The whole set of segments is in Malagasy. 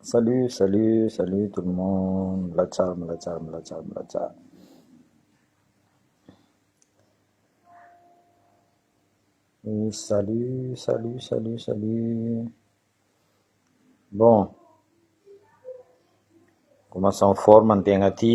Salut salut salut tout le monde milatsaha milatsaha milatsaha milatsaha salut salut salut salut bon commence en forme ny tegna ty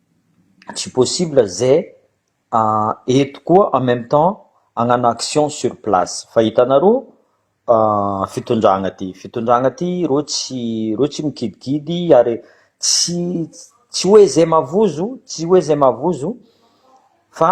tsy possible ze eto koa en meme temps agnano action sur place fa hitanareo fitondragna ty fitondragna ty reo tsy reo tsy mikidikidy ary tsy tsy hoe ze mavozo tsy hoe ze mavozo fa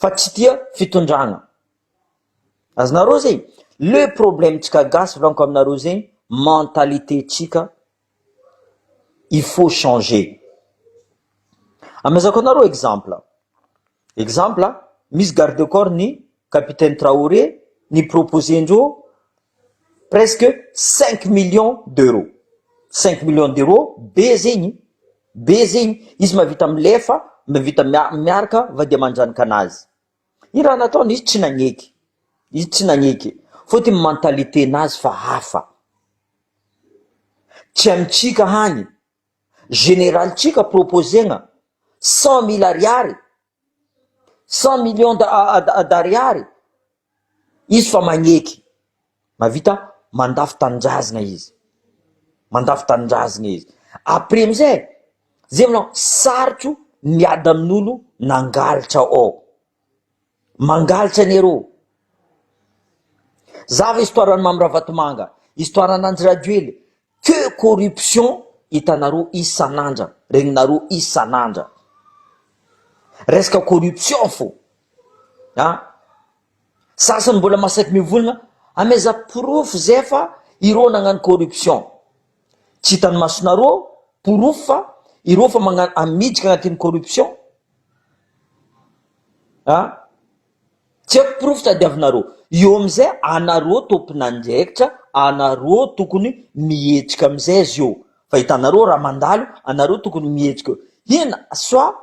fa tsy tia fitondrana azonareo zay le problème tsika gasy volaniko aminareo zay mentalité tsika il faut changer amezako anareo exemple exemple misy garde corps ny capitaine traoré ny proposé ndreo presque cinq millions d'euros cinq millions d'euros be zegny be zegny izy mavita milefa mavita miaraka va dia manjanaka anazy i raha nataony izy tsy nagneky izy tsy nagneky fôtiny mentalité nazy fa hafa tsy amintsika hany generalintsika proposena cent mille ariary Cent millions d'ariary izy fa magneky, mahavita mandafo tanindrazana izy, mandafo tanindrazana izy, après amizay zay vao sarotro miady amin'olo nangalatra ao, mangalatra anie rô, zava histoire an'i Mamy Ravatomanga, histoire an'i Andry Rajoely. Que corruption hitanareo isan'andra, regninareo isan'andra. Resaka corruption fô a! Sasany mbola masaky mivolagna, ameza porofo zay fa ireo nagnano corruption. Tsy hitan'ny masonareo porofo fa ireo fa magnano, miditra agnatin'ny corruption a! Tsy haiko porofo tadiavinareo. Eo amizay anareo tomponandraikitra anareo tokony mihetsika amizay zio fa hitanareo raha mandalo anareo tokony mihetsika eo hina soa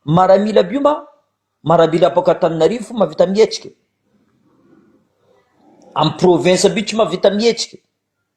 maramila by ma marabila apoka Antananarivo fo mavita mihetsika am province by tsy mavita mihetsika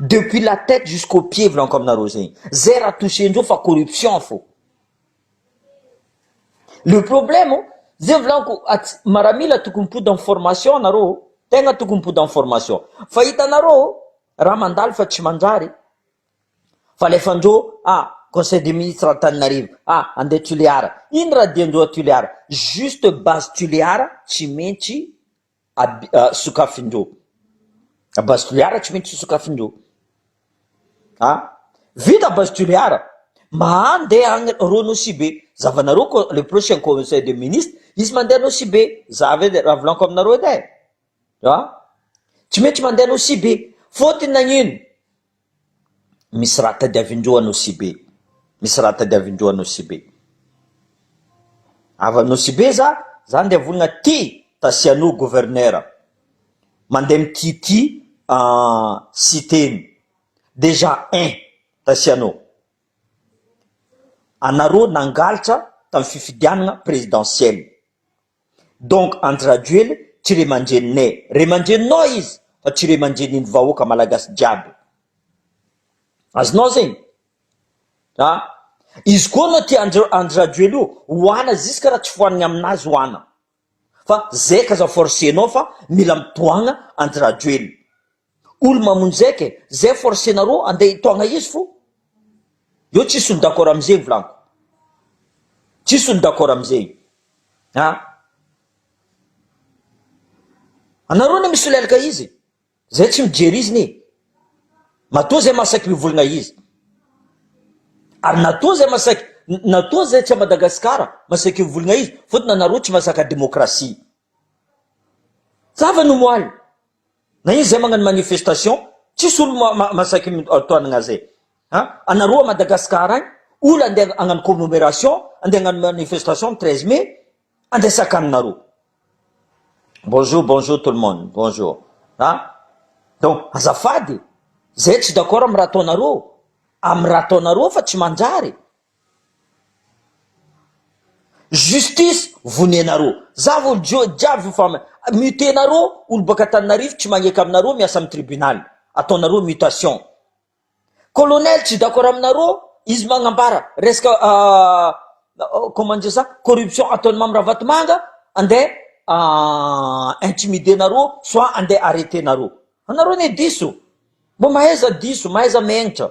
Depuis la tête jusqu'au pied volaniko aminareo zegny zay raha toucher-ndreo fa corruption fô, le problème zay volaniko atsy maramila tokony mipody amin'ny formation nareo, tegna tokony mipody amin'ny formation fa hitanareo raha mandalo fa tsy manjary fa alefandreo ah conseil des ministres Antananarivo ah andeha Tulear, ino raha dian-dreo à Tulear, juste base Tulear tsy maintsy. Aby, ah, sokafin-dro. Base Toliara tsy mety tsy sokafin-dro. Ah, vita Base Toliara. Mahandeha agny rô Nosibe. Zavanareo ko le prochain conseil de ministre, izy mandeha Nosibe. Za avy edy raha volaniko aminareo edy e. Ah, tsy mety tsy mandeha Nosibe. Fôtony nagnino? Misy raha tadiavin-droa Anosibe Misy raha tadiavin-droa Anosibe Avy Anosibe za, za ndeha vonona aty Tasianò governera Mandeha mitity siteny Déjà ein! Tasianò Anareo nangalatra tamin'ny fifidianana présidentielle Donc Andry Rajoely tsy ray aman-dreninay, ray aman-dreninao izy fa tsy ray aman-drenin'ny vahoaka malagasy jiaby. Azonao zegny? A! Izy koa anao tia Andry Andry Rajoely io, oana ziska raha tsy foanigny aminazy oana. Fa zay k'aza forcenao fa mila mitohagna Andry Rajoely. Olo mamonjeka e, zay forcenareo andeha hitogna izy fo, eo tsisy olo d'accord amizegny volanko, tsisy olo d'accord amizegny a, anareo anie misolelaka izy, zay tsy mijery izy ne, matoa zay masaky mivolagna izy, ary natoa zay masaky, natoa zay tsy a Madagascar masaky mivolagna izy, fotony anareo tsy mazaka demokrasia, zava ny moaly. Na izy zay magnano manifestation tsisy olo masaky mitoanagna zay a! Anareo a Madagascar agny olo andeha hagnano commemoration andeha hagnano manifestation ny treize mai andeha sakaninareo. Bonjour bonjour tout le monde bonjour a! Donc azafady e! Zay tsy d'accord am raha ataonareo am raha ataonareo fa tsy manjary. Justice vonenareo. Za vo njo jiaby vo fa mute nareo olo baka Antananarivo tsy magneka aminareo miasa am tribunal ataonareo mutation. Colonel tsy d'accord aminareo izy magnambara resaka comment dire ça corruption ataony Mamy Ravatomanga ande intimider nareo soit ande arreter nareo. Anareo ne diso. Mbo mahaiza diso, mahaiza megnitra.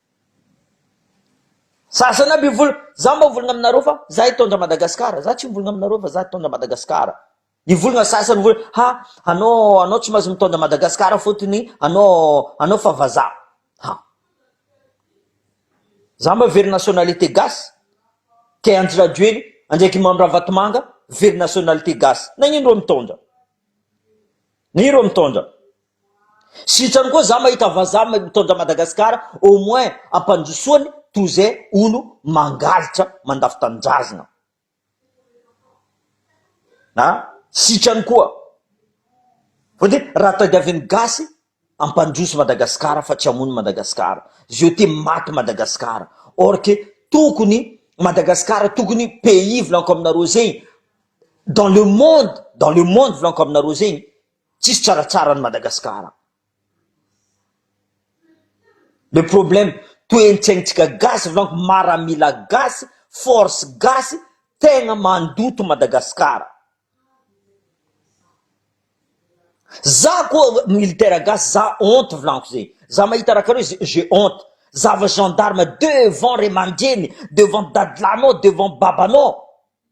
Za zany aby vol za mba volgna aminareo fa za hitondra Madagascar za tsy mivolgna aminareo fa za hitondra Madagascar ny volgna sasany hoe ha anao anao tsy mahazo mitondra Madagascar fotony anao anao fa vazaha ha za mba very nationalité gasy kay Andry Rajoely andraiky Mamy Ravatomanga very nationalité gasy nagnino reo mitondra nagnino reo mitondra Sitrany koa za mahita vazaha mitondra Madagascar au moins ampandrosoany toy izay olo mangalitra mandafo tanindrazana a! Sitrany koa fa de raha tadiavin'ny gasy ampandroso Madagascar fa tsy hamono Madagascar je te maty Madagascar or que tokony Madagascar tokony pays volanko aminareo zegny dans le monde dans le monde volanko aminareo zegny Tsisy tsaratsara any Madagasikara. Le problème toentsaintsika gasy donc maramila gasy force gasy tegna mandoto Madagasikara. Za koa militaire gasy za honte vlaniko ze za mahita raha kareo ze je honte zava gendarme devant ray aman-dreny devant dadilahinao devant babanao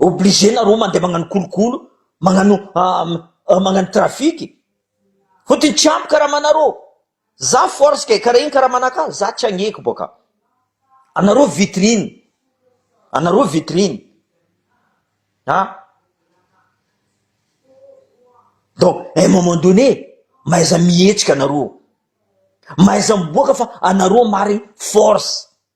Obligé nareo mandeha magnano kolokolo, magnano magnano trafic, fotony tsy ampy karamanareo, za force kay kara iny karamanakah za tsy agneko boka, anareo vitrine, anareo vitrine ah, donc un moment donné mahaiza mihetsika nareo, mahaiza miboaka fa anareo marigny force.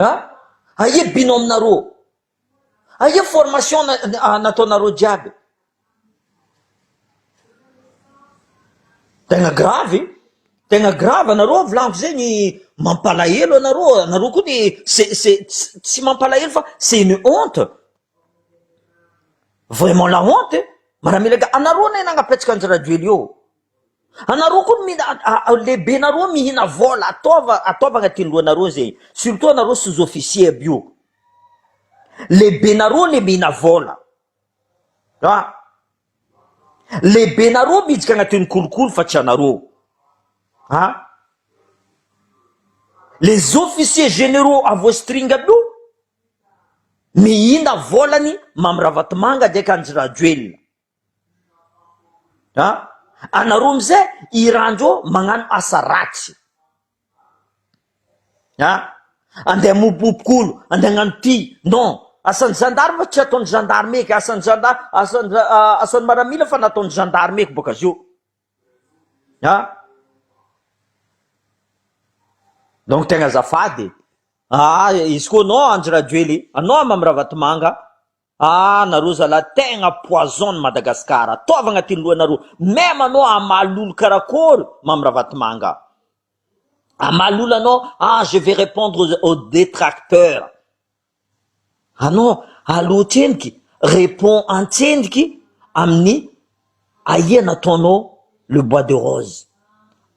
Aia binôme narô? Aia formation nataonareo jiaby? Tegna gravy e, tegna gravy anareo avy lahy zegny mampalahelo anareo, anareo koa de ce-ce tsy mampalahelo fa c'est une honte, vraiment la honte e, miaramila anareo anie nanapetsaka an'i Rajoelina eo. Anareo koa mi lehibenareo mihina vola ataova ataova agnatin'ny lohanareo zegny surtout anareo sous officier aby io lehibenareo le mihina vola a lehibenareo midika agnatin'ny kolikoly fa tsy anareo a les officiers generaux à vos string aby io mihina volany mamy ravatomanga ndraiky andry rajoelina Anareo amizay iranreo magnano asa ratsy an! Andeha hamopopoko olo, andeha hagnano ty, non! Asan'ny gendarme tsy ataon'ny gendarme eky, asan'ny gendarme, asan'ny asan'ny maramila fa nataon'ny gendarme eky bôka zio an! Donc tegna azafady e! Izy koa non Andry Rajoely, anao Mamy Ravatomanga. Ah nareo zalahy tegna poison ny Madagascar ataovy agnatin'ny lohanareo meme anao hamaly lolo karakory Mamy Ravatomanga hamaly lolo anao ah je vais repondre aux detracteurs anao alo tsendriky repond antsendriky amin'ny Ahia nataonao le bois de rose,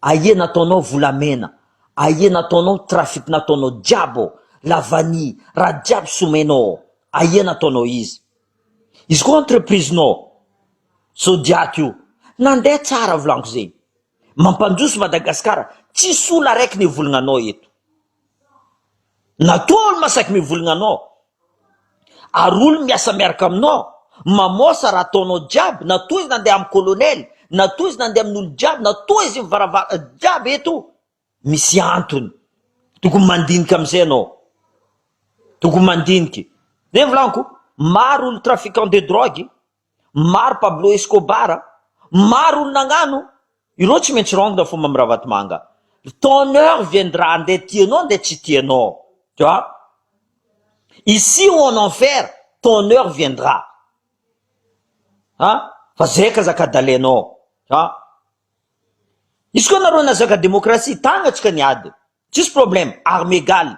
ahia nataonao volamena, ahia nataonao trafic nataonao jiaby ao, la vanille, raha jiaby somenao ao, ahia nataonao izy. Izy koa entreprise nao zodiac io nandeha tsara volanko zegny, mampandroso Madagascar, tsisy olo araiky nevolagna anao eto. Natoa olo masaky mivolgna anao ary olo miasa miaraka aminao mamosa raha ataonao jiaby natoa izy nandeha am colonel natoa izy nandeha aminolo jiaby natoa izy mivaravara jiaby eto misy antony tokony mandinika amizay anao tokony mandinika zay volaniko maro olo trafiquant de drogue Maro Pablo Escobar a! Maro olo nagnano, ireo tsy maintsy rongina fo Mamy Ravatomanga. Ton heure viendra ndeha tianao ndeha tsy tianao. Tu vois? Ici ou en enfer, ton heure viendra. An! Fa zay ka zaka-dalenao. An! Izy koa nareo nazaka demokrasia, tagnantsika ny ady. Tsisy problème, armes égales.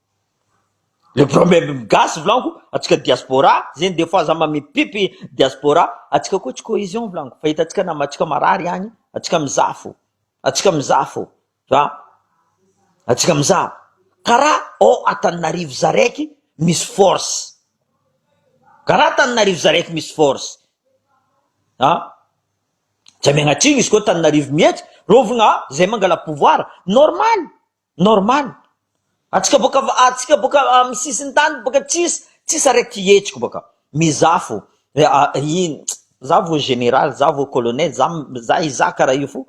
Le problème ny gasy volaniko antsika diaspora zegny des fois za mamipipy diaspora antsika koa tsy cohésion volaniko fa hitantsika nama antsika marary agny antsika mizaha fô antsika mizaha fô fa antsika mizaha kara ao Antananarivo za raiky misy force kara Antananarivo za raiky misy force an tsy amiagnatsimo izy koa Antananarivo mihetsy rovagna zay mangala pouvoir normal Normal, atsika boka atsika boka am sisintany boka tsis tsis araiky hihetsiko boka mais za fo in za vo general za vo colonel za za iza kara io fo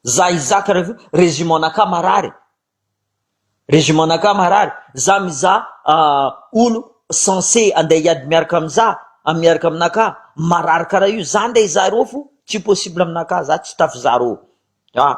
za iza kara io fo régiment naka marary régiment naka marary za miza olo sense ande hiady miaraka am za am miaraka aminaka marary kara io za ndray za rô fo tsy possible aminaka za tsy tafy za rô ah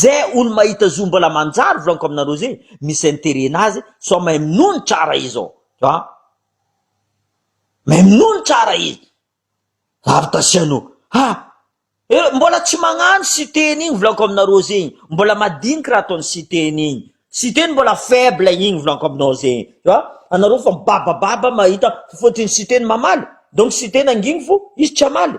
Ze olo mahita zo mbola manjary volaniko aminareo ze misy interet nazy sao mahay minoa ny tsara izy ô a! Mahay minoa ny tsara izy avy tasiano a! Eh mbola tsy magnano Siteny igny volaniko aminareo ze igny mbola madiniky raha ataony Siteny igny, Siteny mbola faible igny volaniko aminao ze igny a! Anareo fa mibabababa mahita fotony Siteny mamaly donc Siteny anginy fo izy tsy hamaly.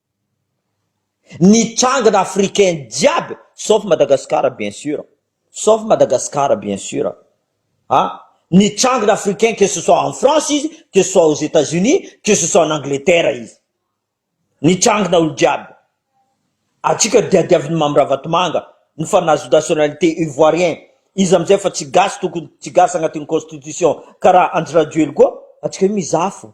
Nitrangana africain jiaby sauf Madagascar bien sur, sauf Madagascar bien sur an! Nitrangana africain que ce soit en France izy, que ce soit aux Etats Unis, que ce soit en Angleterre izy. Nitrangana olo jiaby. Antsika diadiavin'i Mamy Ravatomanga ny fa nahazo nationalité ivoirien, izy amizay efa tsy gasy tokony tsy gasy agnatin'ny constitution karaha Andry Rajoelina koa, antsika io mizaha fo.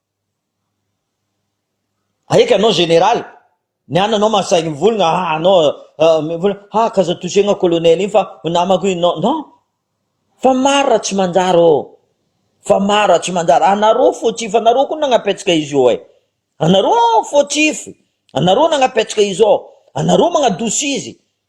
Aika anao général, ny ananao mahasahy mivolagna, ah anao mivolagna, ah k'aza toucher-gna colonel iny fa ho namako iny, non, non, fa maro raha tsy manjary ô, fa maro raha tsy manjary, anareo fautif, anareo koa nagnapetraka izy io eh, anareo fautif, anareo nagnapetraka izy ô, anareo magnadosy izy,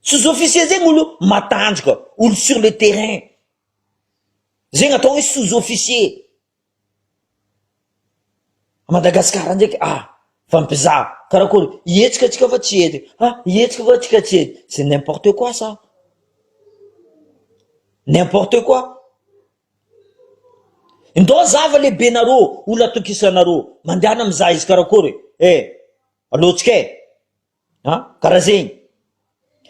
Sous officier zegny olo matanjaka, olo sur le terrain. Zegny atao hoe sous officier. A Madagasikara ndraiky ah, fa mpizaha, karakôry, hihetsika tsika fa tsy hety, ah hihetsika fa tsika tsy hety, c'est n'importe quoi ça, n'importe quoi. Ndao zava lehibenareo, olo atokisanareo, mandehana mizaha izy karakôry e, eh, alohantsika e. An karaha zegny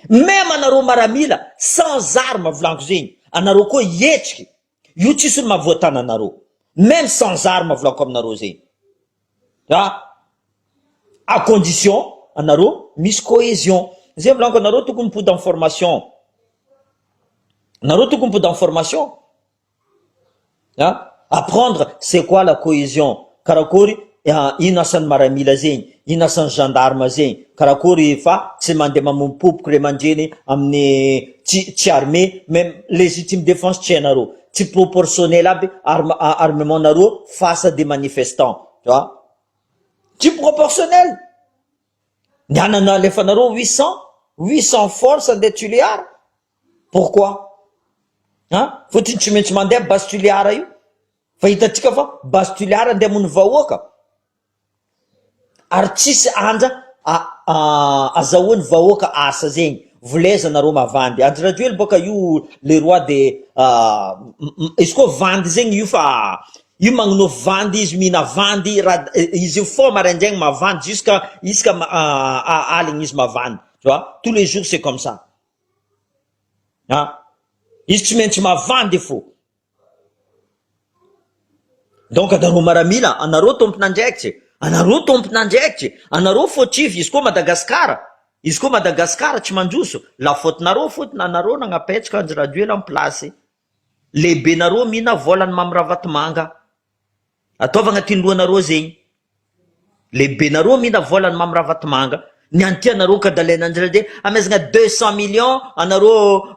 meme anareo maramila sans arme volagno zegny anareo koa hihetriky io tsisy olo mahavoa tana anareo meme sans arme volako aminareo zegny a à condition anareo misy cohesion zay volagno anareo tokony mipody en formation nareo tokony mipody en formation. Apprendre c'est quoi la cohesion, karakory ino asan'ny maramila zegny, ino asan'ny gendarme zegny, karakory fa tsy mandeha mamompopoko ray aman-dreny amin'ny tsy armé mais légitime défense tsy hainareo, tsy proportionnel aby arme- armement-nareo face à des manifestants, tsy proportionnel, ny anana alefanareo huit cent, huit cent force andeha Tulear. Pourquoi? An! Fotony tsy maintsy mandeha base Toliara io fa hitantsika fa base Toliara andeha hamono vahoaka ary tsisy anja azahoany vahoaka asa zegny voleza nareo mavandy Andry Rajoely boka io le roi de izy koa vandy zegny io fa io magnonao vandy izy mihina vandy ra- izy io fort maraindraigny mavandy jusqu'à isaka aligny izy mavandy tu vois tous les jours c'est comme ça. Ah! Izy tsy maintsy mavandy fo. Donc anareo maramila, anareo tompon'andraikitry, anareo tompon'andraikitry, anareo fautif, izy koa Madagascar, izy koa Madagascar tsy mandroso, la faute-nareo fotona, anareo nanapetsoka Andry Rajoelina am place, Lehibenareo mihina volan Mamy Ravatomanga ataovy agnatin lohanareo zegny lehibenareo mihina volan Mamy Ravatomanga ny anty anareo ka dalaina ndraindray amezagna deux cent million anareo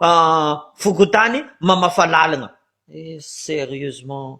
fokontany mamafa lalagna eh serieusement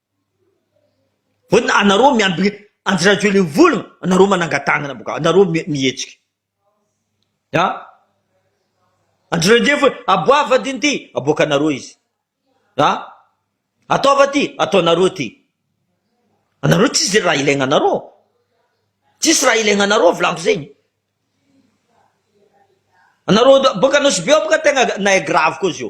Hoe anareo miambina Andry Rajoelina anareo manangan-tanana boka anareo mihetsika ah Andry Rajoelina hoe aboava ity ity aboakanareo izy ah ataova ity ataonareo ity anareo tsisy raha ilaina anareo tsisy raha ilaina anareo volako zegny anareo boka nosy be boka tegna nahay gravy koa zio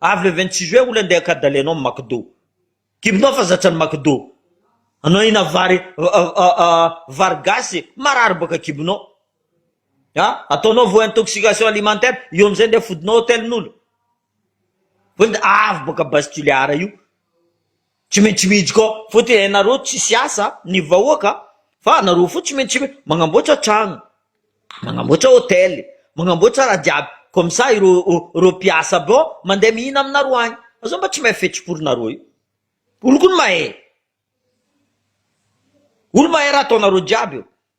Avy le vingt six juin oula ndeha ka dale anao McDo. Kibonao fa zatsany McDo. Anao hina vary vary gasy marary boaka kibonao. Ha? Ataonao vao intoxication alimentaire, io amizay ndeha fodinao hotelin'olo. Vao avy boaka Bastille Ara io. Tsy maintsy mijy ko fotiny enareo tsisy asa ny vahoaka fa anareo fo tsy maintsy magnamboatra tragno magnamboatra hotel magnamboatra raha jiaby comme ça ireo ireo mpiasa bo mandeha mihina aminareo agny fa zao mba tsy mahay fetsim-porinareo io olo ko ny mahay olo mahay raha ataonareo jiaby io.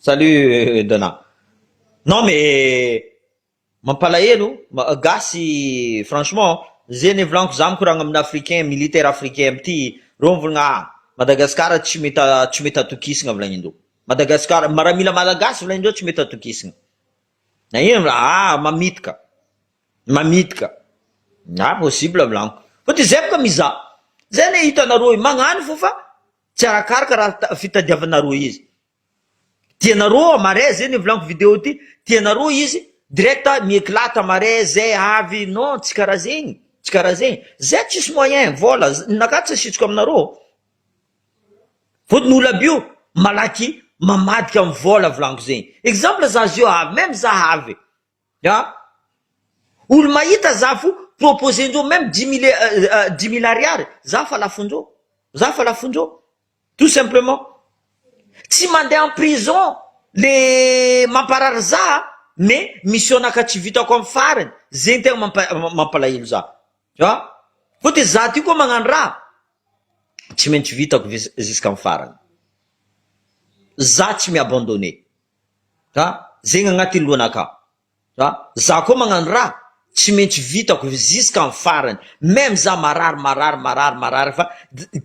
Salut Dona. Non mais mampalahelo gasy franchement ze nivolaniko za mikoragna amina africain militaire africain amty reo mivolagna ah Madagascar tsy mety tsy mety atokisagna volagnindreo Madagascar maramila malagasy volagnindreo tsy mety atokisagna nagnino ma ah mamitaka mamitaka ah possible volagniko fa de zay boka mizaha zay le hitanareo magnano fô fa Tsy arakaraka raha fitadiavanareo izy tianareo marais zay nivolaniko video ty tianareo izy direct mi-eclate marais zay avy non tsy karaha zegny tsy karaha zegny zay tsisy moyen vola ninakah tsy asitsiko aminareo fôtony olo aby io malaky mamadika am vola volaniko zegny exemple za zio avy meme za avy Ya. Olo mahita za fo proposer-ndreo meme dix mille dix mille ariary za fa lafon-dreo. Za fa lafon-dreo. Tout simplement. Tsy mandeha en prison le mamparary za mais misy onaka tsy vitako am farany zegny tegna mampa mampalahelo za. Ya. Koa de za ty koa magnano raha tsy maintsy vitako vis jusqu'à am farany. Za tsy mi-abandonner. Ra, zegny agnaty lohana aka. Ra, za koa magnano ra, tsy maintsy vitako jusqu'à am farany, même za marary marary marary marary fa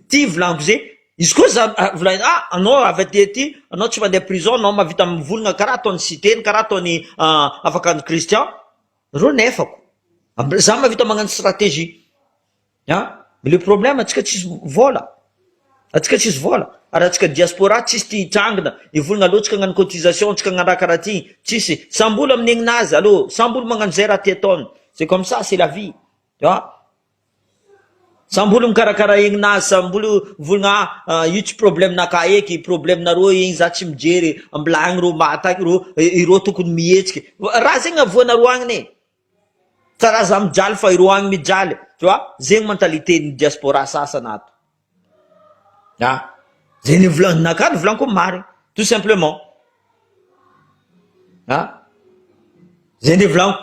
ty volaniko ze, izy koa za volagniko ah anao avy aty aty anao tsy mandeha prison anao mahavita mivolagna karaha ataon'i Siteny karaha ataon'i Afakandro Christian, reo nefako, za mahavita magnano stratégie. An! Mais le problème antsika tsisy vola, antsika tsisy vola, ary antsika diaspora tsisy tia hitrangina, hivolagna alou antsika hagnano cotisation, antsika hagnano raha karaha ty, tsisy, samby olo amin'ny aignin'azy, alou samby olo magnano zay raha tia ataony, c'est comme ça, c'est la vie, an! Samby olo mikarakara aigninazy, samby olo mivolagna ah io tsy problème-nakahy eky, problème-nareo igny za tsy mijery, mbola agny reo mataky reo, ireo tokony mihetsika, raha zegny avoanareo agny ne. Tsa ra za mijaly fa ireo agny mijaly tu vois zegny mentalité ny diaspora sasany ato a ze nivolanaka nivolaniko ny marigny tout simplement a ze nivolaniko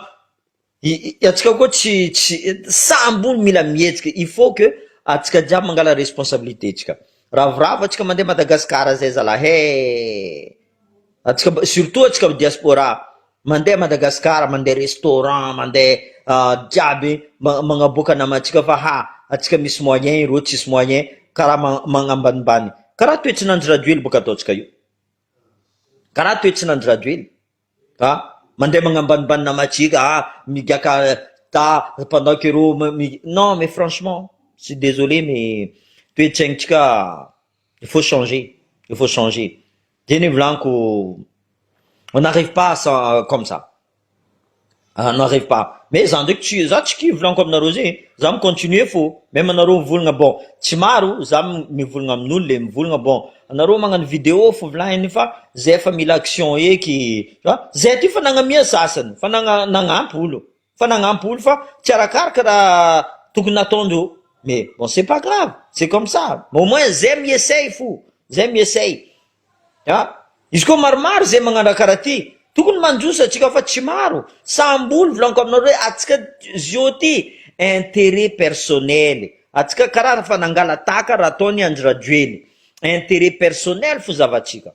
i atsika koa tsy tsy samby olo mila mihetsika il faut que atsika jiaby mangala responsabilité tsika ravoravo atsika mande Madagascar zay zalahy eh atsika surtout atsika diaspora. Mandeha Madagascar mandeha restaurant mandeha jiaby magnaboaka namantsika fa ha atsika misy moyen ireo tsisy moyen kara magnambanimbany kara toetsin'Andry Rajoely boka ataontsika io kara toetsin'Andry Rajoely a mandeha magnambanimbany namantsika ha migiaka ta pendant que ireo non mais franchement suis désolé mais toetsaintsika il faut changer il faut changer Dia nivolaniko, on n'arrive pas sans comme ça, on n'arrive pas, mais za ndraiky tsy, za tsy kivy volaniko aminareo zay e, za mi continuer fô, même anareo mivolagna bon tsy maro za mivolagna amin'olo le mivolagna bon anareo magnano video fô volagny fa zay efa mila action eky, zay ty fa nagnamia sasany fa nagnampy olo. Fa nagnampo olo fa tsy arakaraka raha tokony nataondro mais bon c'est pas grave c'est comme ça mais au moins zay mi-essaye fo zay mi-essaye a izy koa maromaro zay magnano raha karaha ty tokony mandroso atsika fa tsy maro samby olo volaniko aminareo hoe atsika zio ty interet personnel atsika karaha fa nangala-tahaka raha ataony Andry Rajoely interet personnel fo zavatsika.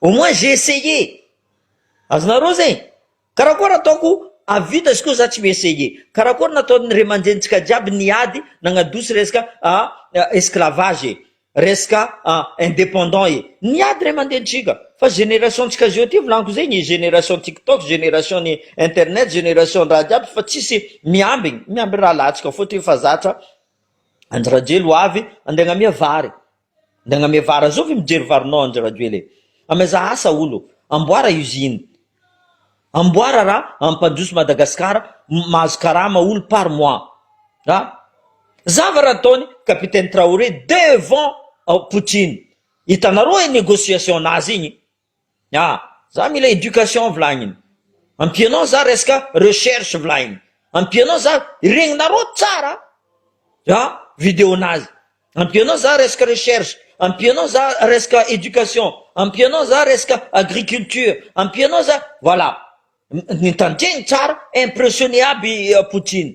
Au moins j'ai essayé! Azonareo zay? Karakôry ataoko hahavita izy koa za tsy mi-essayer? Karakôry nataon'ny ray aman-drenintsika jiaby niady nagnadoso resaka esclavage e! Resaka indépendant e! Niady ray aman-drenintsika! Fa génération ntsika zao ty volaniko zay ny génération tiktok, génération ny internet, génération raha jiaby fa tsisy miambigny, miambigny rahalahintsika fôtony efa zatra Andry Rajoelina ho avy andeha agnamia vary Ndagname vara zovy mijery varinao Andry Rajoel e! Amezaha asa olo, amboara usine, amboara ra ampandroso Madagascar mahazo karama olo par mois ra zava ra ataony Capitaine Traoré devant Poutine, hitanareo e negociation nazy igny A! za mila éducation volagniny, ampianao za resaka recherche volagniny, ampianao za regninareo tsara a video nazy, ampianao za resaka recherche, ampianao za resaka éducation, ampianao za resaka agriculture, ampianao za voilà, mitandregny tsara impressionner aby Poutine.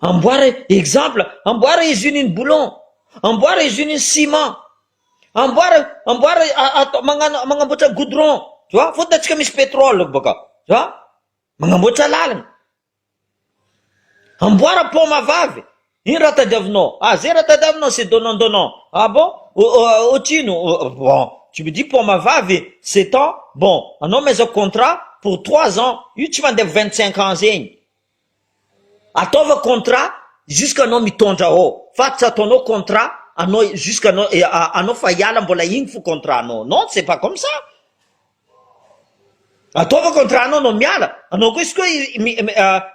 Amboara exemple, amboara usine ny boulon, amboara usine ny ciment, amboara amboara atao manamboatra goudron tu vois, fôtony atsika misy petrole bôka tu vois, manamboatra lalana, amboara paoma vavy. Ino raha tadiavinao? Ah zay raha tadiavinao c'est donnant donnant. Ah bon? Ohatrino? Bon, tu me dis poama vavy sept ans, bon anao maizako contrat pour trois ans, io tsy mandeha vingt cinq ans zegny. Ataova contrat jusqu'à anao mitondra ao fa tsy ataonao contrat anao jusqu'à anao anao fa hiala mbola igny fo contrat anao non c'est pas comme ça. Ataova contrat anao anao miala, anao koa izy koa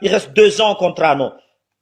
i reste deux ans contrat anao.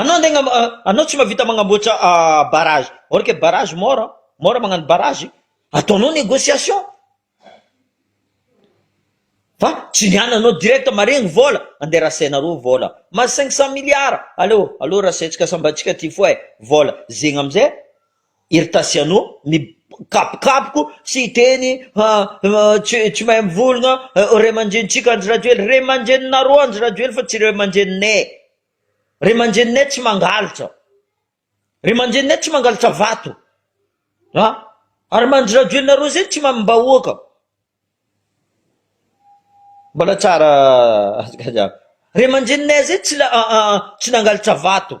Anao andeha agnam- a- anao tsy mahavita magnamboatra barrage, or que barrage mora, mora magnano barrage, ataonao negociation, fa tsy ny any anao direct maharegny vola, andeha rasainareo vola, ma cinq cent milliards, aleo aleo rasaintsika sambantsika ty foa e, vola zegny amizay Hery Tasiano, mikabokaboko sy hiteny, Ha, tsy tsy mahay mivolgna, ray aman-drenintsika Andry Rajoely, ray aman-dreninareo Andry Rajoely fa tsy ray aman-dreninay, ray aman-dreninay tsy mangalatra, ray aman-dreninay tsy mangalatra vato a, ary Andry Rajoelinareo zay tsy mamim-bahoaka, mbola tsara, ray aman-dreninay zay tsy tsy nangalatra vato.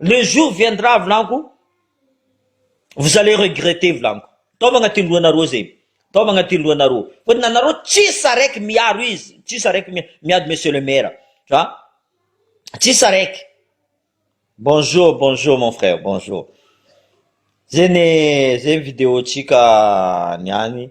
Le jour viendra volagno vous allez regretter volagno tao magnatin'ny lohanareo zay tao magnatin'ny lohanareo fa ny anareo tsisy araiky miaro izy tsisy araiky miady monsieur le maire fa tsisy araiky bonjour bonjour mon frère bonjour zay ny zay ny video tsika ny any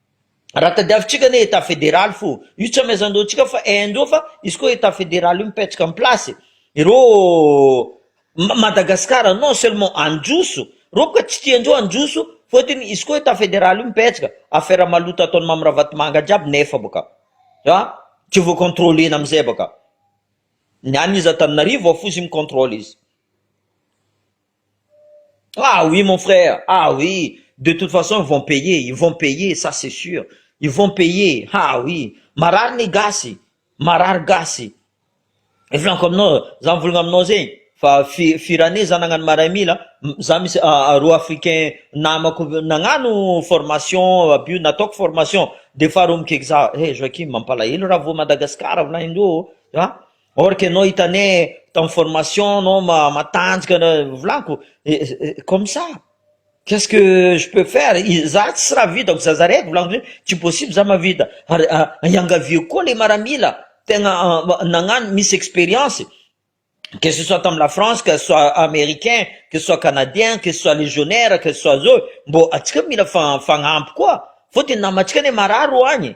Raha tadiavintsika anie Etat federaly fo, io tsy amezandreo antsika fa Inde eo fa izy koa Etat federaly io mipetraka am place ireo Madagascar non seulement handroso reo ka tsy tiandreo handroso fotony izy koa Etat federaly io mipetraka affaire maloto ataony Mamy Ravatomanga jiaby nefa boka a tsy vo controlena amizay boka ny any izy Antananarivo ao fo izy mi controle izy. Ah oui mon frère ah oui de toute façon ils vont payer ils vont payer ça c'est sur ils vont payer ah oui marary ny gasy marary gasy ny filaniko aminao za mivolagna aminao zegny fa fi- firaney za nagnano maray mila za misy roa africain namako nagnano formation aby io nataoko formation de faharoa mikaiky za eh Joachim mampalahelo raha voa Madagascar volagnindreo ô ah. or que enao hita anie tao amin'ny formation enao matanjka volako comme ça qu'est ce que je peux faire za tsy raha vitako za za raiky volako zay tsy possible za mahavita ary iangaviako koa le maramila tegna nagnano misy experience que ce soit tamin'ny la France que ce soit americain que ce soit canadien que ce soit legionnaire que ce soit zao mbô antsika mila fa- fagnampy koa fôtony namantsika anie marary ro agny.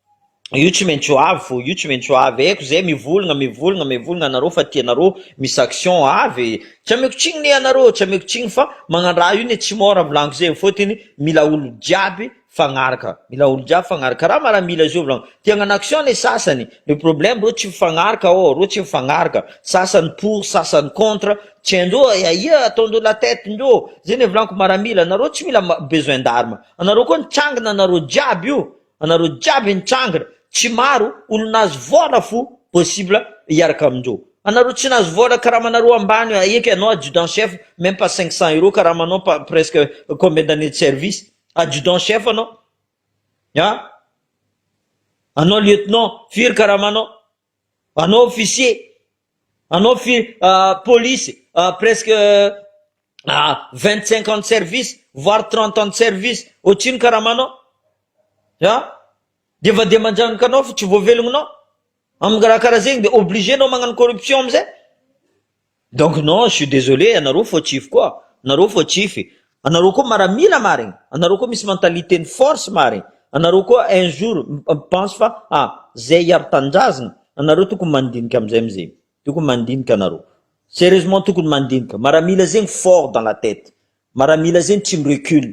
io tsy maintsy ho avy fo io tsy maintsy ho avy aiko zay mivolagna mivolagna mivolagna anareo fa tianareo misy action avy e tsy ameko tsigny ne anareo tsy ameko tsigny fa magnandraha io ne tsy môra volagno zay fôtiny mila olo jiaby fagnaraka mila olo jiaby fagnaraka karaha maramila zao volagno te hagnano action ne sasany le problème reo tsy mifagnaraka ô reo tsy mifagnaraka sasany pour sasany contre tsy haindreo hoe ahia ataondreo la tête ndreo zay ne volagniko maramila anareo tsy mila ma- besoin d'arme anareo koa mitsangana anareo jiaby io Anareo jiaby nitrangana tsy maro olo nahazo vola fo possible hiaraka amindreo. Anareo tsy nahazo vola karamanareo ambany aeky anao adjudant chef meme pas cinq cents euros karamanao pas presque combien d'années de service adjudant chef anao an! Anao lieutenant firy karamanao? Anao officier, anao fi- polisy presque vingt cinq ans de service voire trente ans de service ohatry ino karamanao a! dia efa dia manjanaka anao fa tsy voavelognonao, amin'ny raha karaha zegny dia obligé anao magnano corruption amizay, Donc non je suis desolé anareo fautif koa anareo fautif e anareo koa maramila marigny anareo koa misy mentalité ny force marigny anareo koa un jour pense fa a zay hiaro tanindrazagna anareo tokony mandinika amizay amizay tokony mandinika anareo serieusement tokony mandinika maramila zegny fort dans la tete maramila zegny tsy mirecule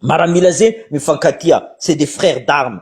maramila zegny mifankatia c'est des frères d'armes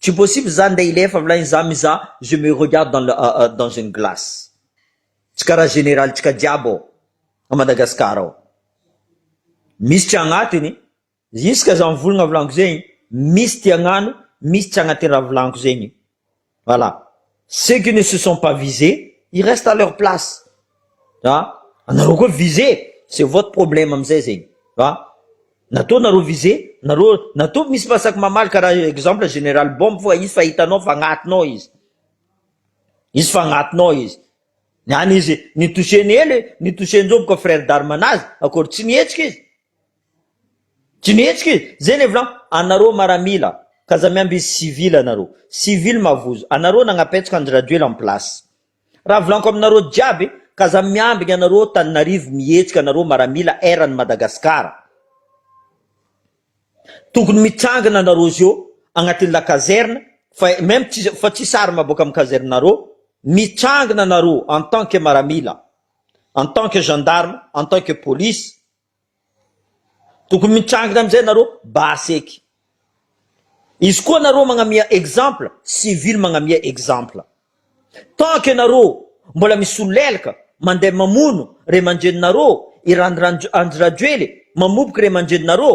Tsy possible za ndeha hilefa mlay ny za mizaha je me regarde dans le dans une glace tsy karaha général tsika jiaby ao a Madagascar ao misy tsy agnatiny jusque za mivolagna volagno zegny misy ty agnano misy tsy agnatiny raha volagno zegny voilà. Ceux qui ne se sont pas visés, ils restent à leur place. A! anareo koa visé, c'est votre problème amizay zegny. A! natao nareo visé, nareo natao misy masaky mamaly karaha exemple général bombe fa izy fa hitanao fa agnatinao izy, izy fa agnatinao izy, ny any izy ny toucher-ny ela e, ny toucher-njo boka frère d'armes anazy, akôry tsy nihetsika izy, Jinetriky zay le volagno anareo maramila ka aza miambina izy civil anareo civil mavozo anareo nagnapetraka Andry Rajoel en place raha volaniko aminareo jiaby ka aza miambina anareo Taninarivo mihetsika anareo maramila erany Madagascar tokony mitrangana anareo zio agnatin'ny la caserne fa meme fa tsisy arme boka amin'ny caserne nareo mitrangana anareo en tant que maramila en tant que gendarme en tant que police Tokony mitrangina amizay nareo baseky. Izy koa nareo magnamia exemple civil magnamia exemple. Tant que nareo mbola misolelka mandeha mamono ray aman-dreninareo i Andry Rajoely mamoboky ray aman-dreninareo